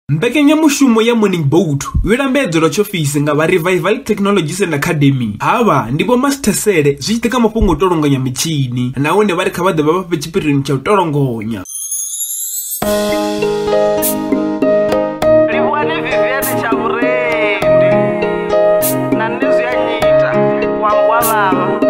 Mbekanyamushumo ya Morning Boat yo lambedzelwa tshiofisi nga vha Revival Technologies and Academy. Havha ndi vho Master Sele zwi tshi ḓa kha mafhungo o tolonganya mitshini nahone vha ri kha vha ḓe vha vha fhe tshipirioni tsha u tolongonya. Livhuwani Vivienne Tshavhurendi na nṋe zwi a nyita wa wa vhavha.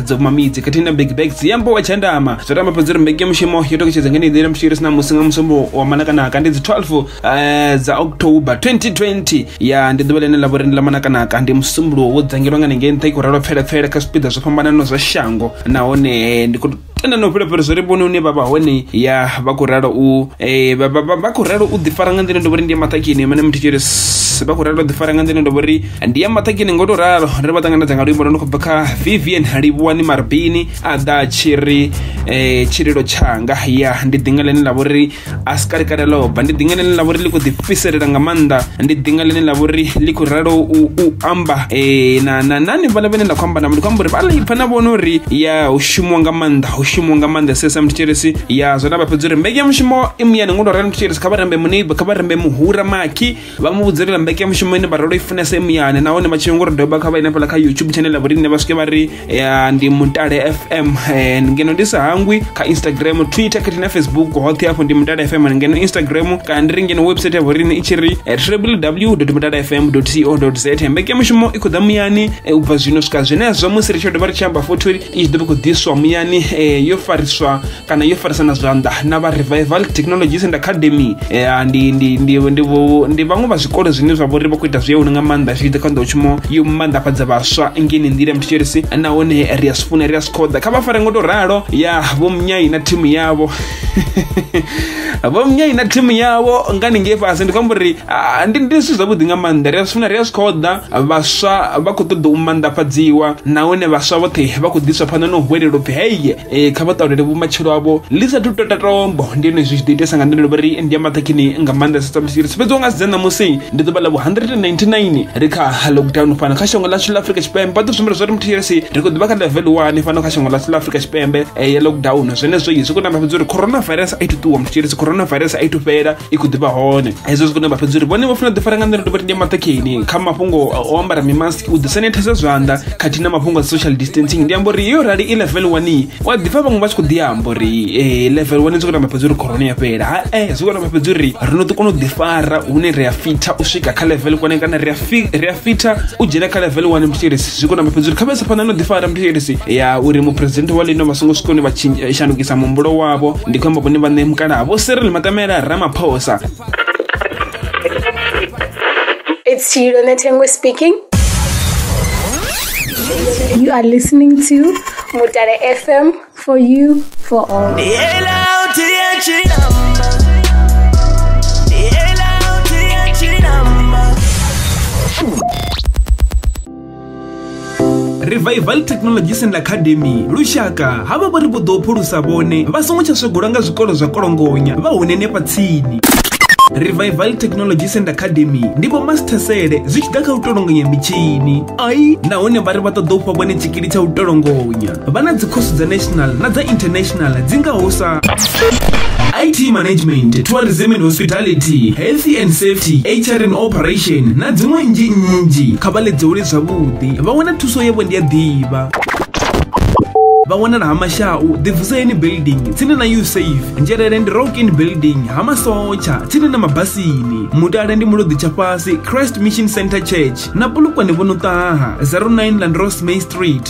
dzo kumamidzi khathihi na big bags ya mbowa tshandama zwo tamba fhedzi uri mbeki ya mushumo yo toketshedza nga nḓila mushu iri sina musi nga musumbu wa manakanaka ndi dzi 12 eh, dza october 2020 ya ndi ḓuvha ḽine ḽa vhori ndi ḽa manakanaka ndi musumbuluwo wo dzangirwa nga ningei nṱha i khou ralwa pfelapfele kha zwipiḓa zwo fhambananaho zwa shango nahone ndi khou tenda na u fhulafhela zwo ri vhone une vha vha hone ya vha khou ralo u eh, vha- vha- vha- vha khou ralo u ḓifara nga nḓila ndo vhori ndi ya maṱakini mane muthu tshiri vha khou ralo u ḓifara nga nḓila ndo vhori ndi ya maṱakeni ngo to ralo ri vha ṱanganedza nga luimbo lwo no khou bva kha vivian livhuwani marbini a ḓa tshi ri um tshililo tshanga ya ndi ḓinga ḽine ḽa vhori a si kalekale ḽo bva ndi ḓinga ḽine ḽa vhori ḽi khou ḓifhiselela nga maanḓa ndi ḓinga ḽine ḽa vhori ḽi khou ralo u amba um na na nani vhala vhene nda khou amba navho ndi khou amba uri vha ḽi pfha na vhone uri ya hu shumiwa nga maanḓa hu shumiwa nga maanḓa sesa mthetshelesi ya zwo na vha fhedza uri mbekanyamushumo i muyani ngo to ralo mthetshelesi kha vha rambe muneiba kha vha rambe muhura makhi vha mu vhudza uri vha mbeke mushumo ine vharolo i funesa i muyani nahone vha tshivhe ngori doba kha vha ine fhala kha youtube channel ya vhorine vha swike vha ri eh, ndi mutale fm eh, ngeno ndi sa hangwi kha instagram twitter khathihi na facebook hoṱhe hafho ndi mutale fm ngeno instagram kana ndi ri ngeno website ya vhorine i tshi ri eh, www mutale fm co za mbeke mushumo i khou ḓa muyani eh, u bva zwino swika zwenezwo musi ri tshi dovha ri tshi amba futhi uri i tshi ḓo vha khou ḓiswa muyani eh, yo fariswa kana yo farisana zwanḓa na vha revival technologies and academy ya ndi ndi ndi ndi ndi vhaṅwe vha zwikolo zwine zwa vhori vha khou ita zwi yone nga maanḓa zwi ḓa kha nḓowetshumo yo maanḓafhadza vhaswa ngeni nḓila mthetshelesi nahone ri a zwi funa ri a zwi khoḓa kha vha fare ngo to ralo ya vho mnyai na thimu yavho vho mnyai na thimu yavho ngani ngei fhasi ndi khou amba uri ndi ndi zwithu zwavhuḓi nga maanḓa ri a zwi funa ri a zwi khoḓa vhaswa vha khou ṱoḓa u maanḓafhadziwa nahone vhaswa vhoṱhe vha khou ḓiswa phanḓa na u hwelela upfhi heye e, kha vha ṱalulele vhumatshelo avho ḽi sathu to tatombo ndi yone zwi tshi ḓo itesa nga nḓila uri ndi ya maṱhakhini nga maanḓa sa samusi ri sifhedziwa nga sidza ṋamusi ndi ḓuvha ḽa vhu 199 ri kha lockdown fhano kha shango ḽashu ḽa afrika tshipembe vha ḓo zwimela zwa ri muthu yesi ri khou ḓivha kha level one fhano kha shango ḽashu ḽa afrika tshipembe e, ya lockdown zwenezwo zwi khou namba fhedza uri coronavirus a i to ṱuwa muthu yesi coronavirus a i to fhela i khou ḓivha hone hezwo zwi kone vha fhedza uri vhone vho funa u ḓifara nga nḓila dovha ndi maṱhakheni kha mafhungo o ambara mimask u ḓisanithesa zwanḓa khathihi na mafhungo a social distancing ndi amba uri yo rali i level one wa ḓifha vhaṅwe vha tshi khou ḓi amba uri eh, level one zwi kone vha fhedza uri corona ya fhela hae zwi kone vha fhedza uri ri no ḓi kona u ḓifara hune ri a fitha u swika kha level one kana ri a fi- ri a fitha u dzhena kha level 1 mthetshelesi zwi kona mafhedzi uri khavhesa phanḓa no ḓifara mthetshelesi ya uri muphuresidennde wa lino vha songo swika hune vha tshin- eh, shandukisa muhumbulo wavho ndi khou amba vhone vhaṋe mukalaha vho serele matamela ramaphosa It's Chilone Tengwe speaking. You are listening to Mutare FM For you, for all. revival technologies and academy lushaka havha vha ri vho ḓo phulusa vhone vha songo tsha swegolwa nga zwikolo zwa kolongonya vha hune nefha tsini revival technology center academy ndi vho masithesele zwi tshi ḓa kha u tolongonya mitshini ai nahone vha ri vha ṱoḓa u fha vhone tshikili tsha u tolongonya vha na dzikhosi dza national na dza international dzi ngaho sa IT management, tourism and hospitality, health and safety, HR and operation na dziṅwe nnzhi nnzhi kha vha ledzeule zwavhuḓi vha wana thuso yavho ndi a ḓivha vha wanala ha mashau ḓivuseni building tsini na usafe nzhelele ndi rockin building ha masotsha tsini na mabasini mutale ndi muloḓi tsha fhasi christ mission center church na pulukwane vho no ṱaha 09 landros may street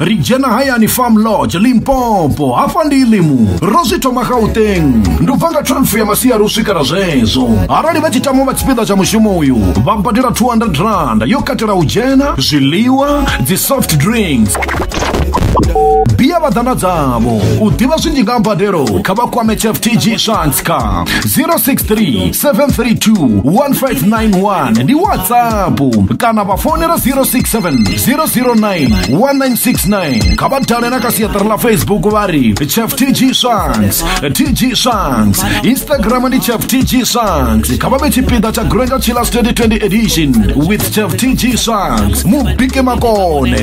ri dzhena hayani farm lodge limpopo hafha ndi ilimu ro zwi thoma gauteng ndi ubva nga 12 ya masiari u swikela zwezwo arali vha tshi tama vha tshipiḓa tsha mushumo uyu vha badela 200 rand yo katela u dzhena zwiḽiwa dzi soft drinks bia vhaḓana dzavho u ḓivha zwinzhi nga mbadelo kha vha kwame cheftg shants kha 063 732 1591 ndi whatsapp kana vha fonela 067 0091969 kha vha dale na kha siaṱari ḽa facebook vha ri chef tg songs tg songs instagram ndi chef tg songs kha vha vhe tshipiḓa tsha granga chillers 2020 edition with chef tg songs mu bike makone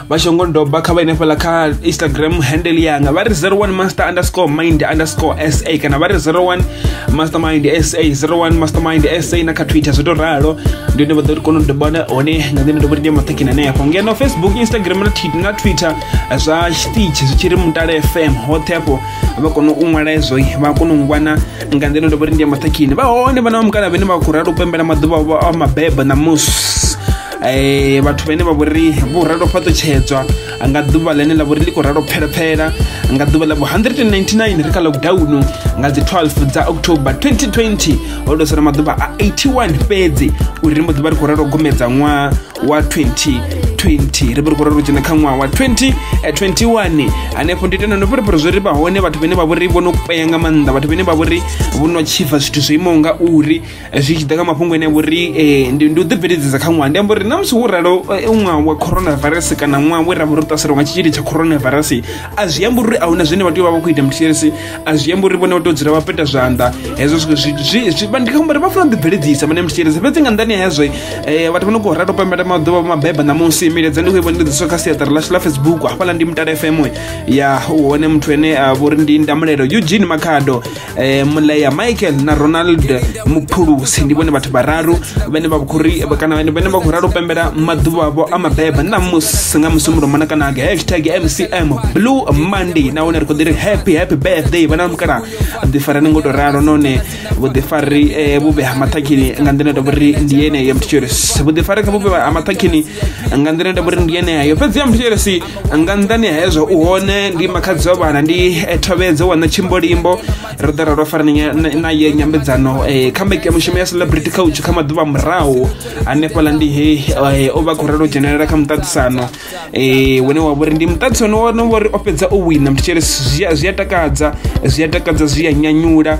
vhashongo doba kha vha ine fhala kha instagram handle yanga vha ri 01 master underscore mind underscore sa kana vha ri 01 mastermind sa 01 mastermind sa na kha twitter zwo to ralo ndi hone vha ḓo ri kona u dobana hone nga nḓila ndobori ndi maṱhekini hanefho ngeno facebook instagram na, na twitter zwa stitch zwi tshi ri mutale fm hoṱhe afho vha kona u ṅwala ezwo vha kona u ngwana nga nḓila ndobori ndi maṱhekini vha hone vha na vha mukala vhene vha khou ralo u pembela maḓuvha a mabebo ṋamusi eh, vhathu vhene vha vhori vho ralo fhaṱutshedzwa nga ḓuvha ḽene ḽa vhori ḽi khou ralo phelaphela nga ḓuvha ḽa vho 199 ri kha lockdown nga dzi 12 dza october 2020 ho tou sala maḓuvha a 81 fhedzi uri ri mbo ḓuvha ri khou ralo gomedza ṅwaha wa 2020 ri vho ri khou ralo dzhena kha ṅwaha wa 2021 hanefho ndi tenda no fhirifhiri zwo ri vha hone vhathu vhene vha vhori vho no kwea nga maanḓa vhathu vhene vha vhori vho no tshifha zwithu zwo imaho nga uri zwi tshi ḓa kha mafhungo ene vhuri eh, ndi u ḓibveledzisa kha ṅwaha ndi amba uri na musi wo ralo eh, ṅwaha wa coronavirus kana ṅwaha we ra vha ro ṱaselwa nga tshitzhili tsha coronavirus a zwi amba uri a huna zwine vha tea u vha vha khou ita mths a zwi amba uri vhone vha tea u dzula vha peta zwanḓa hezwo zwithu zwi- zwi- zwi- vha- ndi khou amba uri vha funa u ḓibveledzisa vhane mths fhedzi nga nḓani hezwo eh, vhathu vha no khou rata u pembela maḓuvha vha mabeba ṋamusi milaedza ndi khou i vhonedziswa kha siaṱari ḽashu ḽa facebook hafhaḽa ndi mutala fm ya hone muthu ene a vhori ndi ndamulelo eugene makhado eh, mulea michael na ronald muphulusi ndi vhone vhathu vhararu vhene vha khou ri kana vhene vhene vha khou ralo pembela maḓuvha avho a mabeba na musi nga musi muromana kana nga hashtag mcm blue monday nahone ri khou ḓi ri happy happy birthday vhana mukala ḓifarani ngo to ralo none vhuḓifari eh, vhuvhe ha maṱhakhini nga nḓila ya tovhori ndi yeneyo mthitshiri vhuḓifari kha vhuvhe ha maṱhakhini nga nḓila nda vhori ndi yeneyo fhedzi ya muthetshelesi nga nḓani ha hezwo u hone ndi makhadzi wa vhana ndi eh, thovhedzo wana tshimbolimbo ro ḓa ra ro fara na ye nyambedzano eh, kha mbeki ya mushumo ya celebrity couch kha maḓuvha murahu hanefhaḽa ndi he eh, o vha khou rela u dzhenelela kha muṱaṱisano wene wa vhori ndi muṱaṱisano wone vhori o fhedza o wina muthetshelesi zwi a takadza zwi a takadza zwi a nyanyula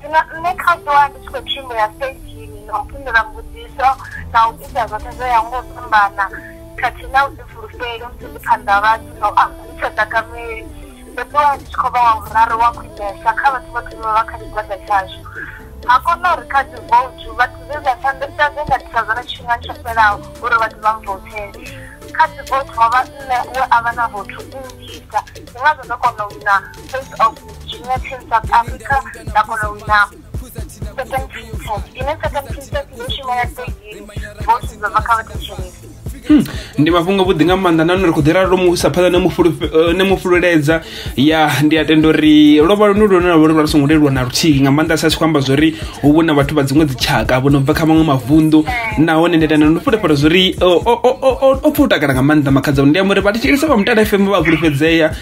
zwino nṋe kha ṱuwa ndi tshi khou tshimbila stagini na u fhindula mbudziso na u ita zwoṱhe zwo ya ngo u fhambana khathihi na u ḓi fulufheli musi ndi phanḓa vhathu na u amba ndi sa takameli ndo ṱuwa ndi tshi khou vha wa vhuraru wa khwinesa kha vhathu vhoṱhe vha vha kha tshigwada tshashu ha kona uri kha dzi voutu vhathu zwe zwa shandukisa zwe nda thusa zwone tshifhingani tsho fhelaho uri vhathu vha mvoutele kha dzi voutu ho vha nṋe we a vha na voutu nnzhisa ndi ngazwo ndo kona u wina face of Junior Team South Africa nda kona u wina second princess ine second princess ndo shumela stage bosi dzo bva kha vhathetshelesi Hmm, ndi mafhungo vhuḓi nga maanḓa nahone ri khou ḓi ralo mu isa phanḓa na mu fulufhe- eh, na mu fululedza ya ndi a tenda uri lwo vha lwone lwone lwavha lwa songo leluwa na luthihi nga maanḓa sa tshi khou amba zwa uri hu vhu na vhathu vha dziṅwe dzitshaka vho no bva kha maṅwe mavunḓu nahone ndi a tenda ndo fulufhela zwa uri o- o- o- o- o- o pfa u takala nga maanḓa makhadza ndi amba uri vhathetshelesi vha mutala fm vha a fhulufhedzea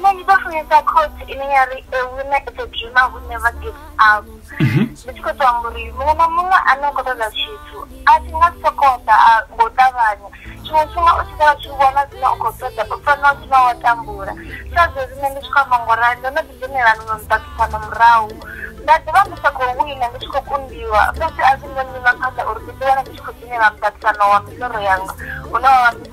nṋe ndi ḓo funesa khotsi ine ya ri a woman is a dreamer who never gives up mhm. ndi tshi khou tou amba uri muṅwe na muṅwe ane u khou ṱoḓa tshithu a tshi nga si sokou ḓa ngo ṱavhanya tshiṅwe tshifhinga u tshi ḓovha tshi vhona zwine u khou ṱoḓa u fanela u tshivha wa tambula sa zwezwi nṋe ndi tshi khou amba ngo rali ndo no ḓi dzhenela miṅwe miṱaṱisano murahu nda ḓivha ndi sa khou wina ndi tshi khou kundiwa fhedzi a zwi ngo nyima phanḓa uri ndi ḓi wana ndi tshi khou dzhenela muṱaṱisano wa miḽoro yanga une wavha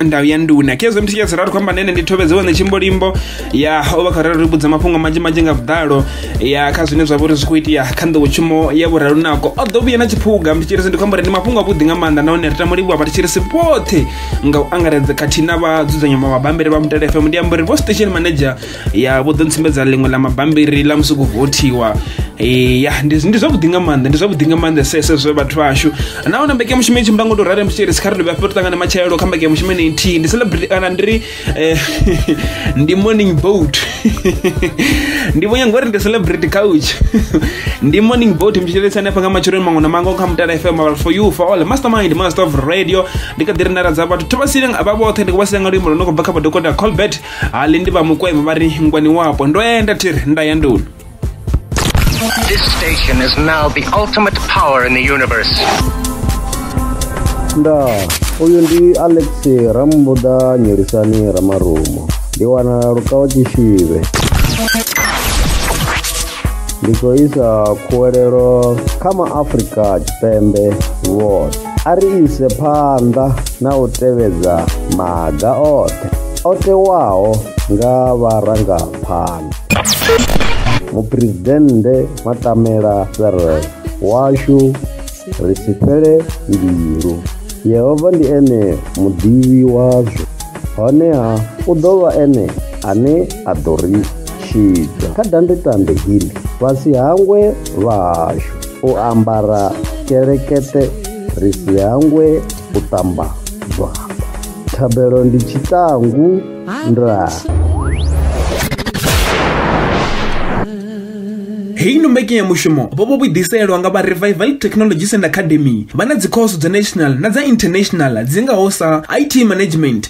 ndawi ya nduna khezwo mthi tshiyazira ri khou amba nene ndi thovhedze wane tshimbolimbo ya o vha kharali ri vhudza mafhungo manzhi manzhi nga vhuḓalo ya kha zwine zwa vha uri zwi khou itea kha nḓowetshumo ya vhuralunako o ḓo vhuya na tshiphuga mthi tshirisi ndi khou amba uri ndi mafhungo avhuḓi nga maanḓa nahone ri tamo livhuwa vha tshirisi vhoṱhe nga u angaredza khathihi na vha dzudzanya mabambiri vha mutele fm ndi amba uri vho station manager ya vho ḓo ntsumbedza ḽiṅwe ḽa mabambiri ḽa musi ku vothiwa eh, ya ndi zwavhuḓi nga maanḓa ndi zwavhuḓi nga maanḓa sese zwe vhathu vhashu nahone mbekanyamushumo i tshimbila ngo to rare mutshiri si kha ri dovhe hafho ri ṱangane matshelo kha mbekanyamushumo ine nthihi ndi celebrity kana ndi ri eh, ndi morning boat ndi vho nyanga uri ndi celebrity couch ndi morning boat mutshilelisa hanefha nga matsheloni maṅwe na maṅwe kha mutala fm our for you for all mastermind master of radio ndi kha ḓi ri nara dza vhathu thobasile vha vhoṱhe ndi khou vha sile nga luimbo lwo no khou bva kha vhadokota colbert halindi vha mukwevho vha ri ngwani wapo ndo enda thiri nda ya nduni This station is now the ultimate power in the universe. nda uyu ndi alex rambuda nyelisani ramarumo ndi wana lukawa tshishivhe ndi khou isa khuwelelo kha maafrika tshipembe vhoṱhe A ri ise phanḓa na u tevhedza maga oṱhe o tewaho nga vharangaphanḓa. Muphuresidennde Matamela Cyril, Washu ri si fhele mbilu. Yehova ndi ene muḓivhi wazwo, honeha u ḓo vha ene ane a ḓo ri tshidza. Kha dandetande heḽi, vha si hangwe vhahashu. u ambara kelekete ri si hangwe u ṱamba zwanḓa thabelo ndi tshiṱangu nda heyi no mbekanyamushumo vho vho vhuḓiselwa nga vha revival technologies and academy vha na dzikhoso dza national na dza international dzi ngaho sa it management